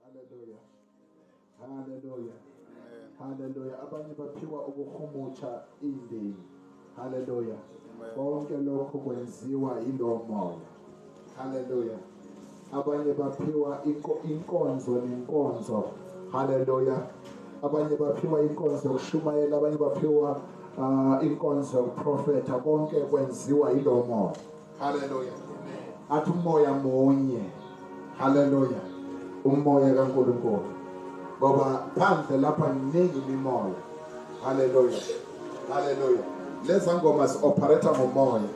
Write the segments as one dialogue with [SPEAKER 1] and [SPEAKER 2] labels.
[SPEAKER 1] Haleluya. Haleluya. Haleluya. Abanye baphiwa ukukhumutsha indini. Haleluya. Konke lokho kwenziwa yilowo moya. Haleluya. Abanye baphiwa inkonzo nenkonzo. Haleluya. Abanye baphiwa inkonzo yokushumayela, abanye baphiwa uh, inkonzo yokuprofetha, konke kwenziwa yilowo moya. Hallelujah. Athi umoya munye. Hallelujah. Umoya kaNkulunkulu. Ngoba phandle lapha kuningi imimoya. Hallelujah. Hallelujah. Leza ngoma si-operator ngomoya.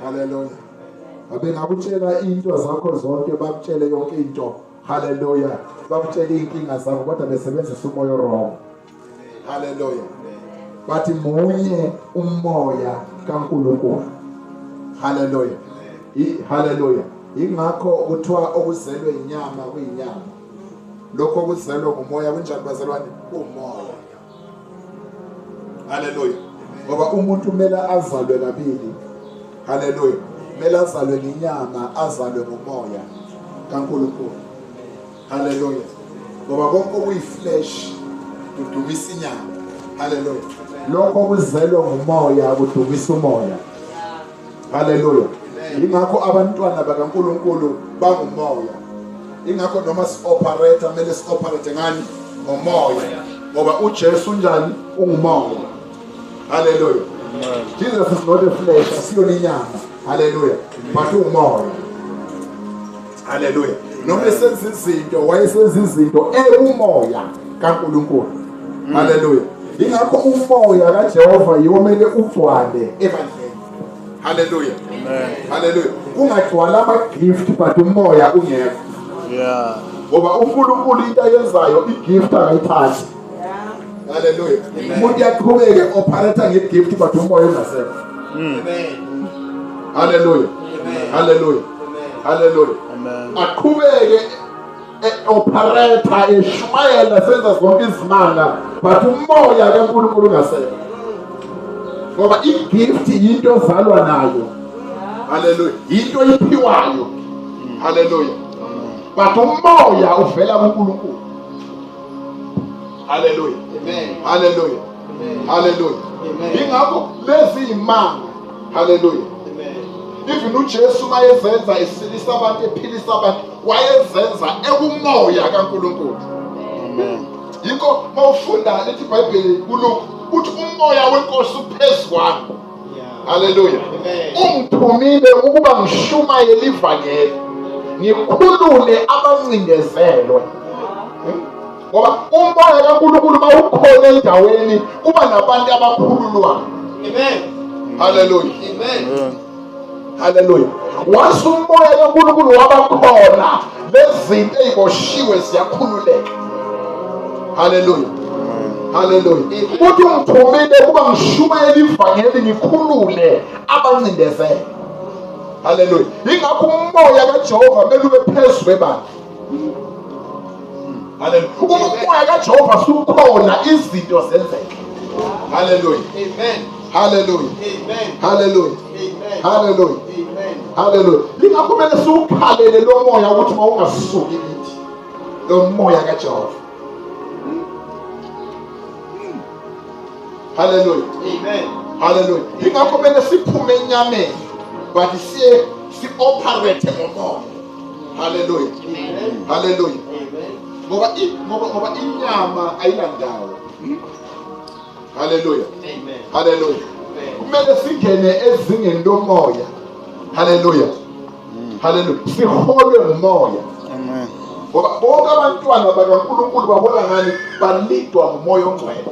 [SPEAKER 1] Hallelujah. Abengakutshela into zakho zonke bakutshele yonke into. Hallelujah. Bakutshele inkinga zakho kodwa besebenzisa umoya wrong. haleluya bathi munye umoya kaNkulunkulu haleluya haleluya ingakho kuthiwa okuzelwe inyama kuyinyama lokho okuzelwe ngumoya kunjani bazalwane umoya haleluya ngoba umuntu kumele azalwe kabili haleluya kumele azalwe ngenyama azalwe ngomoya kaNkulunkulu Hallelujah. Ngoba konke okuyiflesh kudumisa inyama. Hallelujah. Lokho kuzelwe ngumoya kudumisa umoya. Hallelujah. Ingakho abantwana bakaNkuluNkulu bangumoya. Ingakho noma si operate kumele si operate ngani ngomoya. Ngoba uJesu unjani? Ungumoya. Hallelujah. Jesus is not a flesh, asiyona inyama. Hallelujah. But ungumoya. haleluya noma esenza izinto wayesenza izinto ewumoya kaNkulunkulu mm. haleluya ingakho umoya kaJehova yomele ugcwale ebandleni haleluya haleluya kungagcwala ama-gift but umoya ungekho ngoba unkulunkulu into ayenzayo i-gift akayithathi Hallelujah. Umuntu yaqhubeke operator nge gift but umoya ungasekho. Amen. Hallelujah. Hallelujah. Hallelujah. Amen. Aqhubeke operator eshumayela senza zonke izimanga but umoya kaNkulunkulu ungasekho. Ngoba i gift yinto ozalwa nayo. Hallelujah. Yinto iphiwayo. Hallelujah. But umoya uvela kuNkulunkulu. haleluya haleluya haleluya ingakho lezi imanga haleluya even uJesu mayezenza esilisa abantu ephilisa abantu wayezenza ekumoya kaNkuluNkulu amen yikho mawufunda lithi iBhayibheli kuLuka uthi umoya wenkosi uphezu kwami haleluya ungithumile ukuba ngishumayele ivangeli ngikhulule abancindezelwe ngoba umoya kaNkulunkulu mawukhona endaweni kuba nabantu abakhululwayo amen haleluya amen haleluya wase umoya kankulunkulu wabakhona lezinto eyiboshiwe ziyakhululeka haleluya haleluya uthi ungithumile ukuba ngishumayele ivangeli ngikhulule abancindezele haleluya ingakho umoya kajehova kumele ube phezu kwebandla umoya kajehova sukhona izinto zenzeke haleluya haleluya haleluya haleluya haleluya lingakho kumele siwukhalele lo moya ukuthi mawungasuki kithi lo moya kajehova haleluya haleluya lingakho kumele siphume enyameni but siye si-operate ngomoya haleluya haleluya ngoba ngoba ngoba inyama ayilandawo hmm? haleluya haleluya kumele singene ezingeni lomoya haleluya hmm. haleluya siholwe ngumoya amen ngoba bonke abantwana bakaNkulunkulu babona ngani balidwa ngumoya ongcwele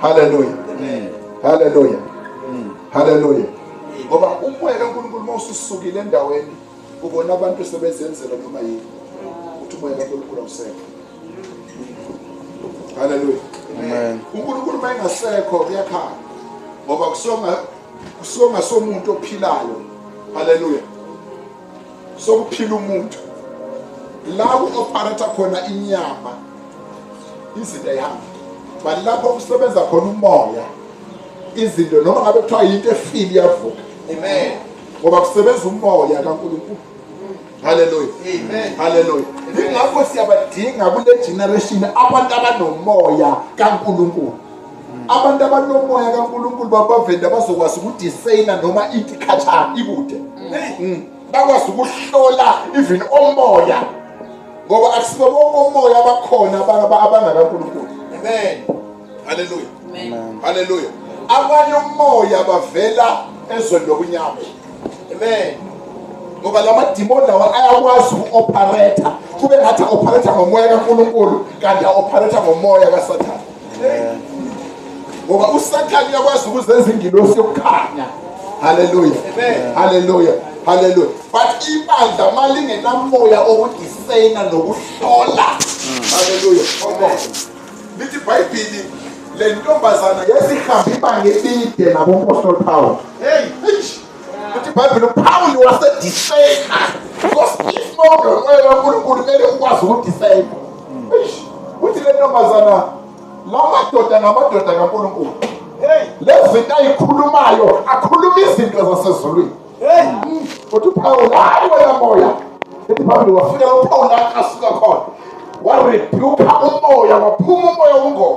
[SPEAKER 1] Hallelujah. Amen. Hallelujah. Mm. Hallelujah. Ngoba umoya kaNkulunkulu uma ususukile endaweni ubona abantu sebezenzela noma yini. Uthi umoya kaNkulunkulu awusekho. Hallelujah. Amen. uNkulunkulu uma engasekho kuyakhala ngoba kusonga kusonga somuntu ophilayo haleluya sokuphila umuntu la ku-operata khona inyama izinto ayihamba but lapho kusebenza khona umoya izinto noma ngabe kuthiwa yinto efile iyavuka amen ngoba kusebenza umoya kankulunkulu haleluya haleluya ingakho siyabadinga kule generation abantu abanomoya kankulunkulu abantu abanomoya kaNkulunkulu babavende abazokwazi ukudisayina noma ithi khatshana ikude mm. bakwazi ukuhlola even omoya ngoba akusibo bonke omoya abakhona abangakaNkulunkulu amen haleluya haleluya abanye umoya bavela ezweni lokunyama amen ngoba la madimoni lawa ayakwazi uku-opharetha kube ngathi a-opharetha ngomoya kankulunkulu kanti a-opharetha ngomoya kasathane ngoba usathane uyakwazi ukuzenza ingilosi yokukhanya haleluya haleluya haleluya but ibandla uma lingenamoya okudisayina nokuhlola haleluya lithi ibhayibhili le ntombazana yesihambe ibanga elide nabompostoli pawulo Uthi iBhayibheli uPawulu wasedisayina. Because if not ngomoya kaNkulunkulu kumele ukwazi ukudisayina. Uthi le ntombazana lamadoda ngamadoda kaNkulunkulu. Hey, lezinto ayikhulumayo akhuluma izinto zasezulwini. Hey, uthi uPawulu hayi wena moya. Uthi Pawulu wafika uPawulu akasuka khona. Warebuka umoya waphuma umoya wobungoma.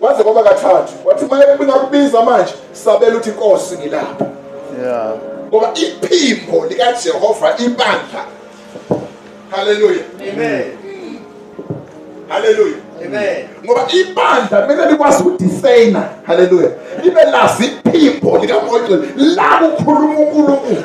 [SPEAKER 1] kwaze kwaba kathathu wathi uma ngakubiza manje sabela uthi inkosi ngilapha yeah ngoba iphimbo likaJehova ibandla haleluya amen haleluya amen ngoba ibandla kumele likwazi ukudisayina haleluya libe lazi iphimbo likamoya la kukhuluma uNkulunkulu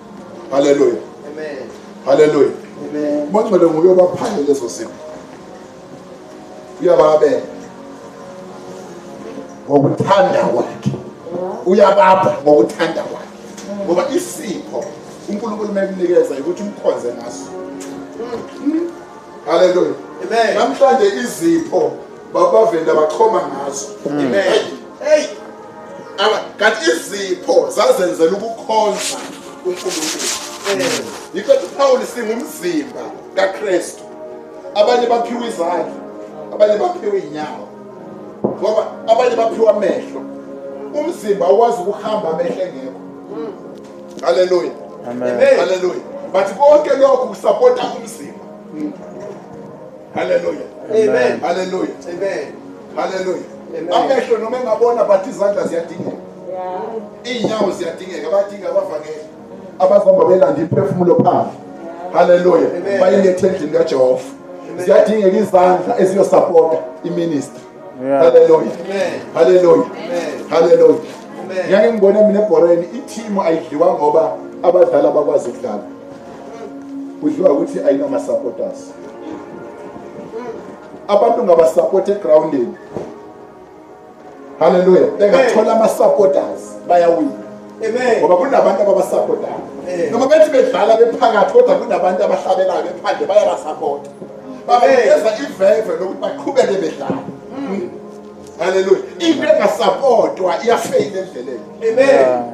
[SPEAKER 1] haleluya haleluya umangcwele nguye obaphanye lezo zinto uyababela ngokuthanda kwakhe uyabapha ngokuthanda kwakhe ngoba isipho unkulunkulu mekunikeza ukuthi umkhonze ngaso haleluya namhlanje izipho babavenda bachoma ngazo amen kanti izipho zazenzela ukukhonza unkulunkulu eh, yikho ethi upawuli singumzimba kakristu abanye baphiwa izandla abanye baphiwa iy'nyawo ngoba abanye baphiwa amehlo umzimba awazi ukuhamba amehlo engekho haleluya haleluya but konke lokhu kusapota umzimba Hallelujah. Amen. Hallelujah. Amen. Hallelujah. Amehlo noma engabona bathi izandla ziyadingeka. Iinyawo ziyadingeka badinga abavangeli abazihamba belanda imphefumulo phandle. Hallelujah. Bayilethe endlini kaJehova. Ziyadingeka izandla eziyosupporta iministry. Hallelujah. Hallelujah. Hallelujah. Ngeke ngibone mina ebhoreni i-team ayidliwa ngoba abadlali abakwazi ukudlala. Kudliwa ukuthi ayinama supporters. abantu ngabasapoti egroundini halleluya bengathola ama-supporters bayawina ngoba kunabantu ababasapotayo noma bethi bedlala bephakathi kodwa kunabantu abahlabelayo bephandle bayabasapota babanikeza iveve lokuthi baqhubeke bedlala hmm. halleluya into engasapotwa iyafeyila endleleni amen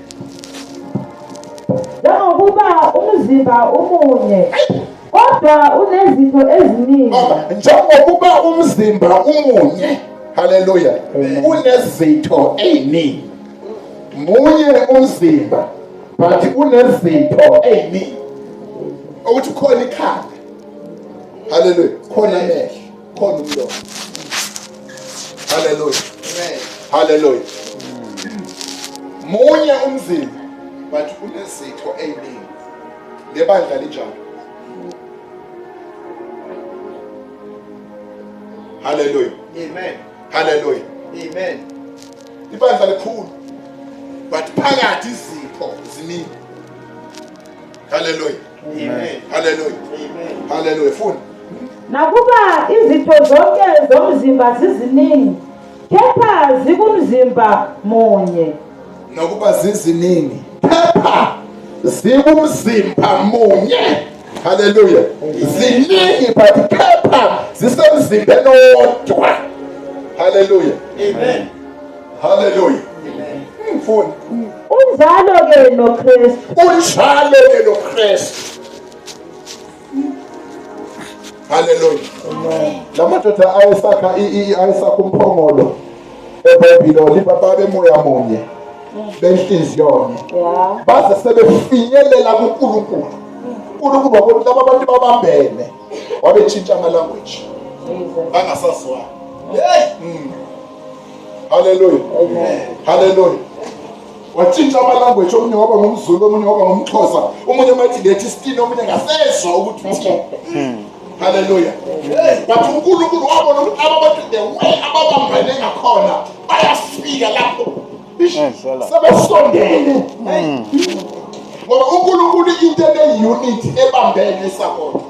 [SPEAKER 2] njengokuba umzimba umunye kodwa unezinto eziningi njengokuba
[SPEAKER 1] umzimba umunye haleluya unezitho eziningi munye umzimba but unezitho eziningi ukuthi khona ikhanda haleluya khona amehlo Khona umlomo. Hallelujah. Amen. Hallelujah. Munye umzimba but unezitho eziningi. Lebandla linjalo. Hallelujah. Amen. Hallelujah. Amen. Ibandla likhulu but phakathi izipho ziningi. Hallelujah. haleluya haleluya funa nakuba
[SPEAKER 2] izitho zonke zomzimba ziziningi kepha zikumzimba munye nakuba
[SPEAKER 1] ziziningi kepha zikumzimba munye haleluya ziningi but kepha zisemzimbeni owodwa haleluya amen Hallelujah. Mfuni. Unjalo
[SPEAKER 2] ke lo Kristu. Unjalo ke
[SPEAKER 1] lo Kristu. Hallelujah. Amen. Lamadoda ayesakha ayesakha umphongolo eBhayibhiloli bababe moya munye. Benhliziyo. Yeah. Baze sebefinyelela kuNkulunkulu. uNkulunkulu wabona laba bantu babambene wabetshintsha ama language angasazwani hey mm. haleluya haleluya watshintsha amalanguage omunye waba ngumzulu omunye waba ngumxhosa omunye mathi ngethi isitini omunye ngasezwa ukuthi uthini hmm. haleluya but unkulunkulu wabona ukuthi aba bantu the way ababambene ngakhona bayafika lapho sebesondele hmm. ngoba unkulunkulu into ene-unity ebambene isakodwa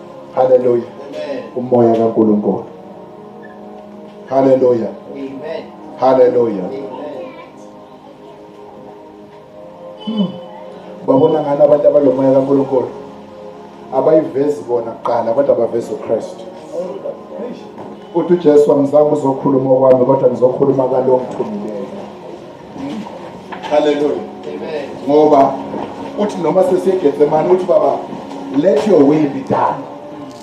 [SPEAKER 1] Hallelujah. Amen. Umoya kaNkulunkulu. Hallelujah. Amen. Hallelujah. Amen. Hmm. Babona ngani abantu abalomoya kaNkulunkulu? Abayivezi bona kuqala kodwa baveza uKristu. Uthi uJesu angizange uzokhuluma okwami kodwa ngizokhuluma kalo ngithumileyo. Hallelujah. Amen. Ngoba uthi noma sesegetsemane uthi baba let your will be done.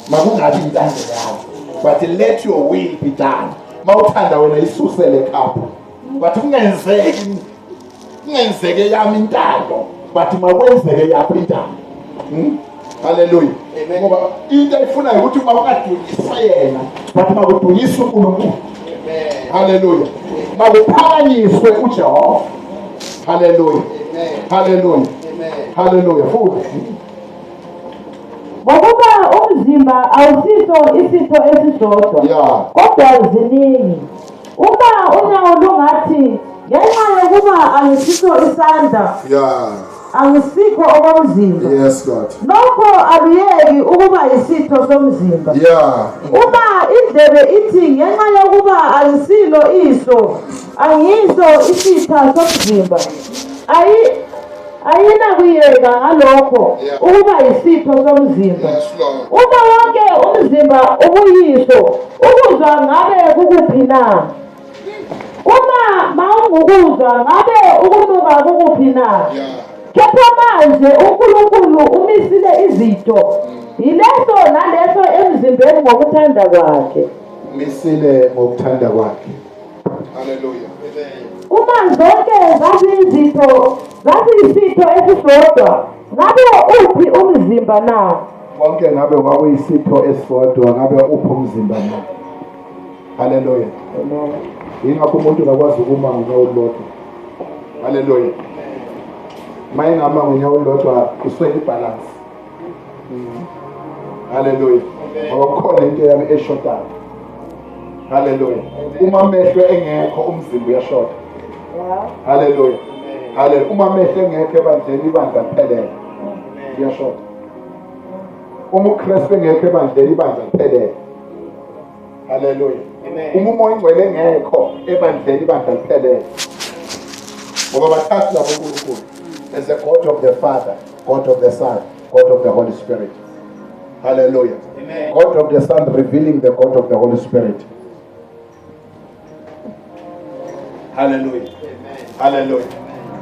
[SPEAKER 1] Makungabi intando yakho. But let your will be done. Mawuthanda wena isusele khapha. But kungenzeki kungenzeke yami intando. But makwenzeke yakho intando. Hmm? Haleluya. Ngoba into ayifunayo ukuthi uma ungadukisa yena, but uma kudukisa uNkulunkulu. Haleluya. Makuphakanyiswe uJehova. Haleluya. Haleluya. Haleluya. Futhi ngokuba
[SPEAKER 2] umzimba awusiso isitho esisodwa yeah. kodwa ziningi uma unyawo lungathi ngenxa yokuba angisiso isandla yeah. angisikho okomzimba yes god
[SPEAKER 1] nokho
[SPEAKER 2] aluyeki ukuba isitho somzimba yeah uma indlebe ithi ngenxa yokuba angisilo iso angiso isitha somzimba ayi ayinakuyeka ngalokho ukuba yisitho somzimba uma
[SPEAKER 1] wonke
[SPEAKER 2] umzimba ubuyiso ukuzwa ngabe kukuphi na Uma mawungukuzwa ngabe ukunuka kukuphi na? Kepha
[SPEAKER 1] manje
[SPEAKER 2] uNkulunkulu umisile izitho yileso naleso emzimbeni ngokuthanda kwakhe. Misile
[SPEAKER 1] ngokuthanda kwakhe. Haleluya. Uma
[SPEAKER 2] zonke zaziyizitho zaziyisitho esisodwa ngabe uphi umzimba na? Konke ngabe
[SPEAKER 1] kwakuyisitho esisodwa ngabe uphi umzimba na? haleluya yingakho umuntu ngakwazi ukuma ngonyawo olulodwa haleluya uma engama ngonyawo olulodwa kuswele ibhalansi mm. haleluya ngoba kukhona into yami eshodayo haleluya uma amehlo engekho umzimba uyashoda haleluya haleluya uma amehlo engekho ebandleni ibandla liphelele uyashoda uma uKristu engekho ebandleni ibandla liphelele haleluya uma umoya ingcwele engekho ebandleni ibandla liphelele ngoba bathathu labo uNkulunkulu as a god of the father god of the son god of the holy spirit haleluya god of the son revealing the god of the holy spirit Hallelujah. Hallelujah.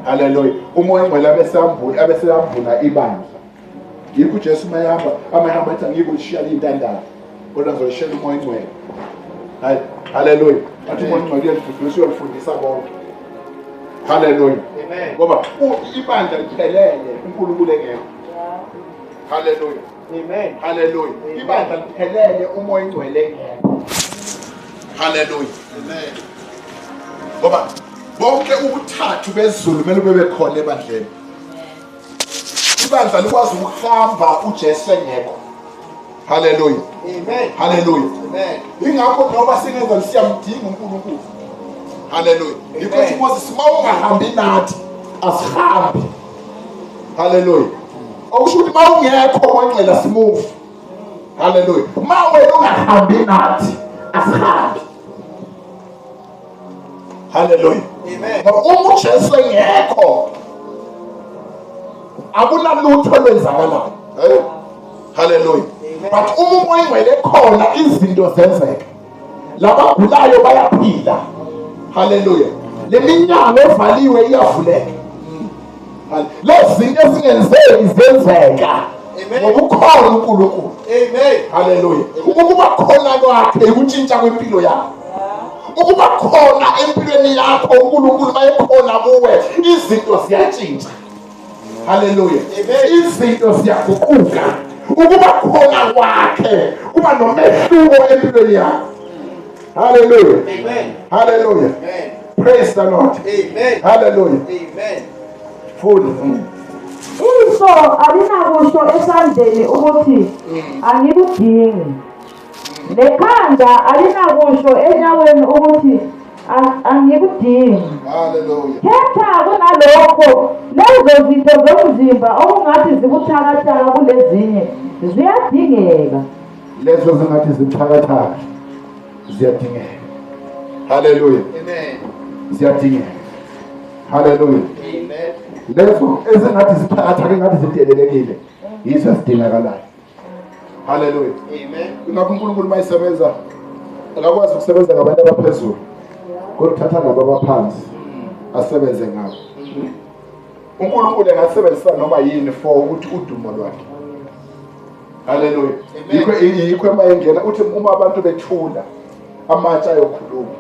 [SPEAKER 1] Hallelujah. Umoya ongcwele abesambula abesambula ibandla. Yikho uJesu mayihamba amayihamba athi angikushiya intandane. Kodwa ngizolishela umoya ongcwele. Hayi. Hallelujah. Athi umoya ongcwele uyalifundisa uyalifundisa bonke. Hallelujah. Amen. Ngoba ibandla liphelele uNkulunkulu engekho. Hallelujah. Amen. Hallelujah. Ibandla liphelele uma oyingcwele ngeke. Hallelujah. Amen. Ngoba bonke ubuthathu bezulu kumele bebe khona ebandleni. Ibandla likwazi ukuhamba uJesu engekho. Hallelujah. Amen. Hallelujah. Amen. Ingakho noma singenza siyamdinga uNkulunkulu. Hallelujah. Yikho ukuthi Moses mawungahambi nathi asihambi. haleluya okusho ukuthi uma ungekho kwenxela simuvu haleluya uma wena ungahambi nathi asihambi haleluya ngoba uma ujesu engekho akunalutho olwenzakalayo haleluya but uma umoya ingcwele khona izinto zenzeka labagulayo bayaphila haleluya le minyango evaliwe iyavuleka lezi zinto ezingenzeki zenzeka ngokukhona unkulunkulu haleluya ukuba khona kwakhe ukutshintsha kwempilo yakho ukuba khona empilweni yakho unkulunkulu mayekhona kuwe izinto ziyatshintsha haleluya izinto ziyaguquka ukuba khona kwakhe kuba nomehluko empilweni yakho haleluya haleluya praise the lord haleluya fundi
[SPEAKER 2] iso alinakusho esandleni ukuthi angikudingi nekhanda alinakusho enyaweni ukuthi angikudingi
[SPEAKER 1] khetha
[SPEAKER 2] kunalokho lezo zitho zomzimba okungathi zibuthakathaka kulezinye ziyadingeka lezo
[SPEAKER 1] zingathi zibuthakathaka ziyadingeka haleluya ziyadingeka haleluya lezo ezingathi zibuthakathaka engathi zidelelekile yizo ezidingakalayo haleluya ingakho unkulunkulu uma isebenza akakwazi ukusebenza ngabantu abaphezulu kodwa uthatha ngabo abaphansi asebenze ngabo unkulunkulu engasebenzisa noma yini for ukuthi udumo lwakhe haleluya yikho yikho uma engena uthi uma abantu bethula amatsha ayokhuluma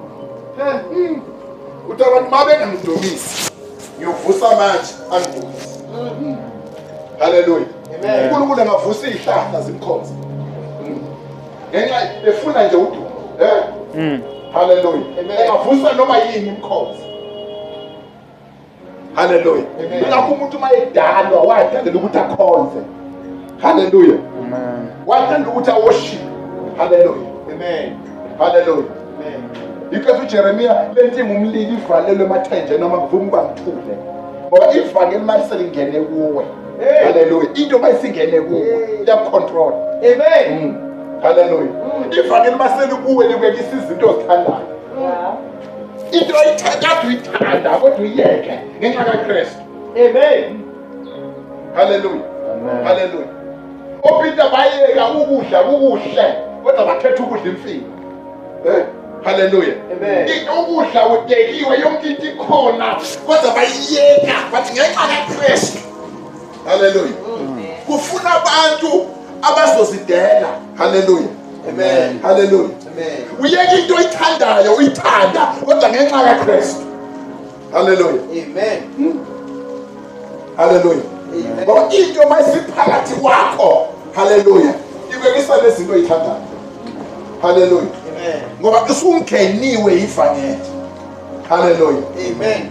[SPEAKER 1] uthi abantu uma bengamdumisi ngiyovusa amatsha angidumise haleluya unkulunkulu angavusa iy'hlahla zimkhonze ngenxa efuna nje udumo um hmm. haleluya engavusa noma yini imkhonze haleluya ingakho umuntu uma edalwa wadalela ukuthi akhonze haleluya wadalela ukuthi awoshipe haleluya haleluya yikho ujeremiya le ntima umlili ivalelwe emathenje noma kuvuma uba ngithule ngoba ivangeli imali selingene kuwe haleluya into uma isingene kuwe iyakucontrola amen mm. haleluya mm. ivangeli uma selikuwe likuyekisa izinto ozithandayo into oyithatha uyithanda kodwa uyiyeke ngenxa kakristu amen haleluya haleluya opeter bayeka ukudla kukuhle kodwa bakhetha ukudla imfino eh, haleluya ukudla udekiwe yonke into ikhona kodwa bayiyeka bathi ngenxa kakristu haleluya kufuna abantu abazozidela haleluya amen haleluya amen uyeka into oyithandayo uyithanda kodwa ngenxa kaKristu haleluya amen haleluya ngoba into mayisiphakathi kwakho haleluya ibekisa lezinto oyithandayo haleluya ngoba usungeniwe ivangeli haleluya amen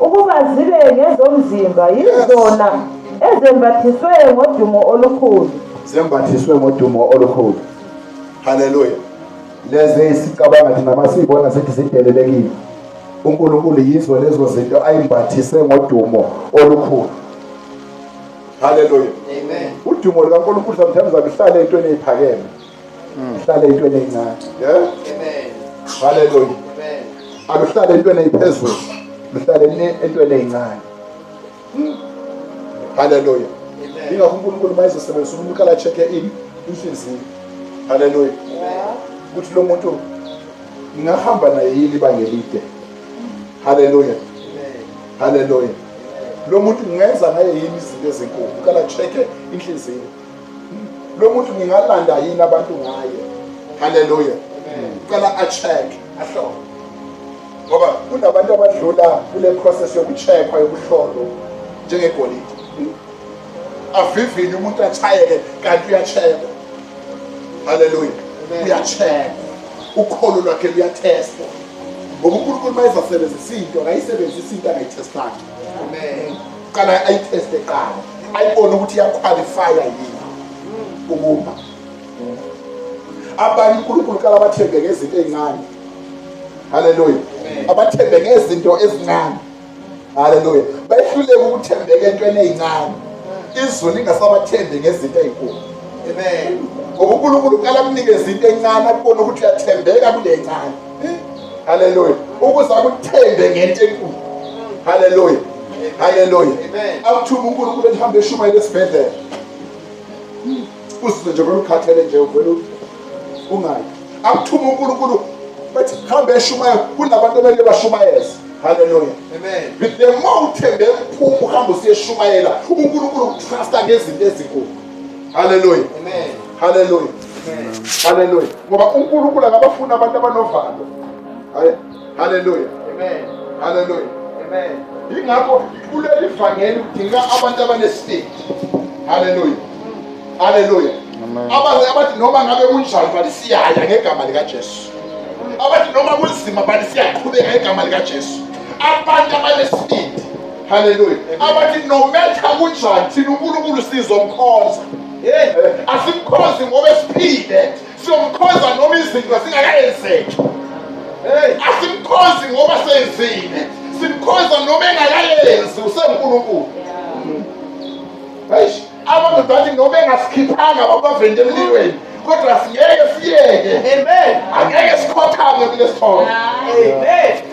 [SPEAKER 2] Ukuba zibe ngezomzimba yizona ezembathiswe ngodumo olukhulu. Zembathiswe
[SPEAKER 1] ngodumo olukhulu. Haleluya. Lezi isicabanga thina masibona sithi sidelelekile. uNkulunkulu yizo lezo zinto ayimbathise ngodumo olukhulu haleluya udumo lukaNkulunkulu sometimes aluhlale entweni eziphakeme uhlale entweni encane yeah amen haleluya amen aluhlale entweni ephezulu luhlale entweni encane haleluya ingakho uNkulunkulu mayizosebenzisa umuntu ukala check in inhliziyo haleluya ukuthi lo muntu ngingahamba naye yini ibanga elide haleluya haleluya lo muntu ngingenza ngaye yini izinto ezinkulu ukala check inhliziyo lo muntu ngingalanda yini abantu ngaye haleluya cela acheck ahlole ngoba kunabantu abadlula kule process yokucheckwa yokuhlolo njengegolide avivinye umuntu achayeke kanti uyacheckwa haleluya uyacheckwa ukholo lwakhe luyathestwa ngoba unkulunkulu uma ezasebenzisa into akayisebenzisa into angayithestanga amen qala ayiteste qala ayibone ukuthi iyakhwalifaya yini ukumba abanye unkulunkulu qala bathembe ngezinto ey'ncane haleluya abathembe ngezinto ezincane haleluya bayehluleka ukuthembeka entweni ey'ncane izulu lingasabathembi ngezinto ey'nkulu amen ngoba unkulunkulu qala kunikeza into encane akubona ukuthi uyathembeka kule ncane haleluya ukuze akuthembe ngento enkulu haleluya haleluya akuthuma unkulunkulu ehambe eshumayela esibhedlela usize nje kolukhathele nje uvele ungayi akuthuma unkulunkulu bethi hambe eshumayela kunabantu abele bashumayeza haleluya amen the more uthembe mphuma uhamba usiyeshumayela unkulunkulu ukutrusta ngezinto ezinkulu haleluya amen haleluya haleluya ngoba unkulunkulu akabafuni abantu abanovalo haleluya haleluya yingakho kuleli vangeli kudinga abantu abanesibindi haleluya haleluya abathi noma ngabe kunjani bathi siyaya ngegama likajesu abathi noma kunzima bathi siyaqhubeka ngegama likajesu abantu abanesibindi haleluya abathi nometha kunjani thina unkulunkulu sizomkhonza Eh, asimkhozi ngoba esiphile siyomkhoza noma izinto zingakayenzeki eh, asimkhozi ngoba senzile simkhoza noma engakayenzi usenkulunkulu eish abantu bathi noma engasikhiphanga babavende emlilweni kodwa singeke siyeke amen angeke sikhothame kulesithombe amen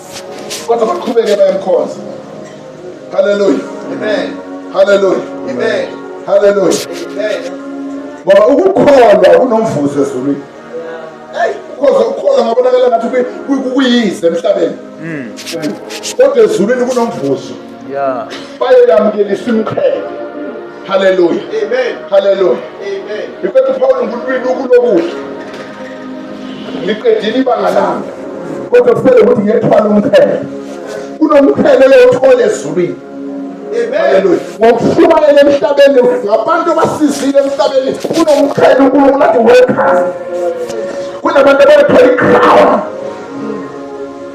[SPEAKER 1] kodwa baqhubeke bayamkhonza haleluya amen haleluya amen haleluya amen ngoba ukukholwa kunomvuzo ezulwini hey ukhoza ukholwa ngabonakala ngathi kuyize emhlabeni hmm. kodwa ezulwini kunomvuzo yeah bayelamkelisa imqhele haleluya amen haleluya amen befethu paul ngulwini ukulokuhle liqedile ibanga lami kodwa kusele ukuthi ngethwala umqhele kunomqhele lewuthole ezulwini ngokushumayela emhlabeni ngabantu abasizile emhlabeni kunomqhele unkulunkulu athi welcome kunabantu abayithola ikhawa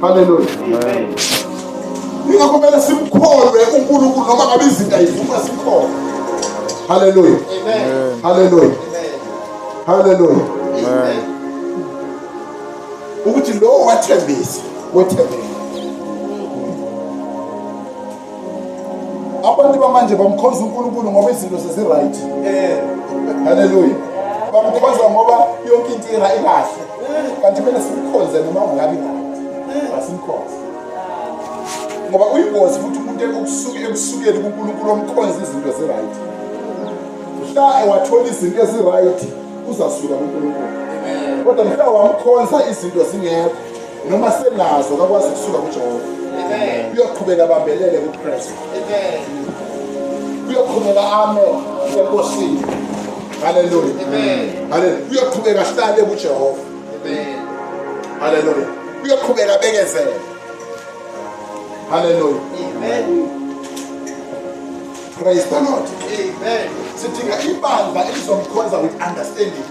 [SPEAKER 1] Haleluya. Ingakho kumele simkholwe uNkulunkulu noma ngabe izinto ayivuma simkholwe. Haleluya. Amen. Haleluya. Haleluya. Amen. Ukuthi lo wathembisa, wethembile. abantu bamanje bamkhonza uNkulunkulu ngoba izinto seziright eh haleluya bamkhonza ngoba yonke into ira ikahle kanti kumele simkhonze noma ungabi asimkhonze ngoba uyingozi futhi umuntu ekusuke ekusukeli kuNkulunkulu omkhonza izinto ziright mhla ewathola izinto eziright uzasuka kuNkulunkulu kodwa mhla wamkhonza izinto zingekho noma senazo kakwazi kusuka kujehova uyoqhubeka abambelele kukristu uyoqhubeka ame enkosini haleluya haleluya uyoqhubeka ahlale kujehova haleluya uyoqhubeka abekezele haleluya praise the lord sidinga ibandla elizomkhonza with understanding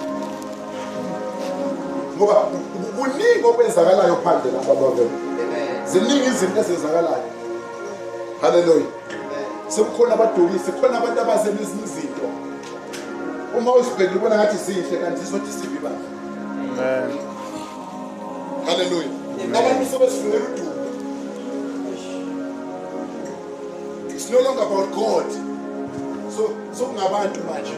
[SPEAKER 1] ngoba kuningi okwenzakalayo phandle lapha bavele ziningi izinto ezenzakalayo haleluya sekukhona abadukisi khona abantu abaze nezinye izinto uma uzibhekile ubona ngathi zinhle kanti zizothi sibi bandla haleluya abantu sebesifunela udumo it's no longer about god so sokungabantu manje